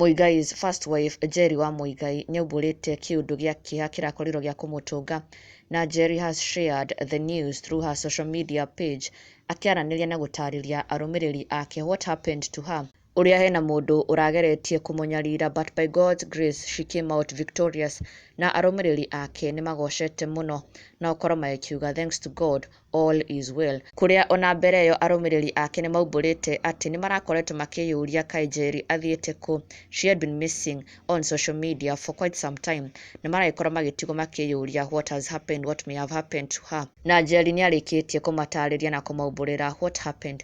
Muigai's first wife Njeri wa Muigai nĩaumbũrĩte kĩũndũ gĩa kĩeha kĩrakorirwo gĩa kũmũtũnga na Njeri has shared the news through her social media page akĩaranĩria na gũtarĩria arũmĩrĩri ake what happened to her ũrĩa hena mũndũ ũrageretie kũmũnyarira but by God's grace she came out victorious na arũmĩrĩri ake nĩmagocete mũno na ũkoro magĩkiuga thanks to God all is well kũrĩa ona mbere ĩyo arũmĩrĩri ake nĩmaumbũrĩte atĩ nĩmarakoretwo makĩyũria kaĩ Njeri athiĩte kũ she had been missing on social media for quite some time na maragĩkorwo magĩtigwo makĩyũria what has happened what may have happened to her na Njeri nĩarĩkĩtie kũmatarĩria na kũmaumbũrĩra what happened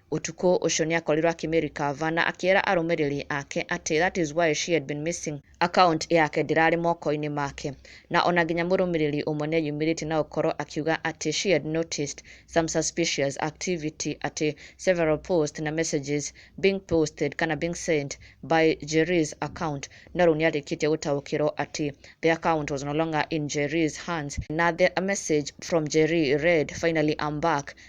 Ũtukũ ũcio nĩ akorirũo akĩmĩrecover na akĩra arũmĩrĩri ake atĩ that is why she had been missing. Account yake ndĩrarĩ moko-inĩ make. Na o na nginya mũrũmĩrĩri ũmwe nĩ eyumĩrĩtie na gũkorũo akiuga atĩ she had noticed some suspicious activity atĩ several posts na messages being posted kana being sent by Njeri's account. No rĩu nĩ arĩkĩtie gũtaũkĩrũo atĩ the account was no longer in Njeri's hands na the message from Njeri read, Finally I'm back.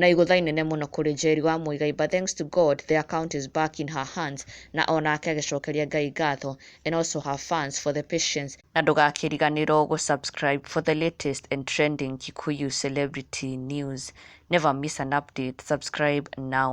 Na igũtha inene mũno kũrĩ Jaeli wa Muigai but thanks to God the account is back in her hands na o nake agĩcokeria Ngai ngatho and also her fans for the patience na ndũgakĩriganĩrwo gũ subscribe for the latest and trending Kikuyu celebrity news never miss an update subscribe now.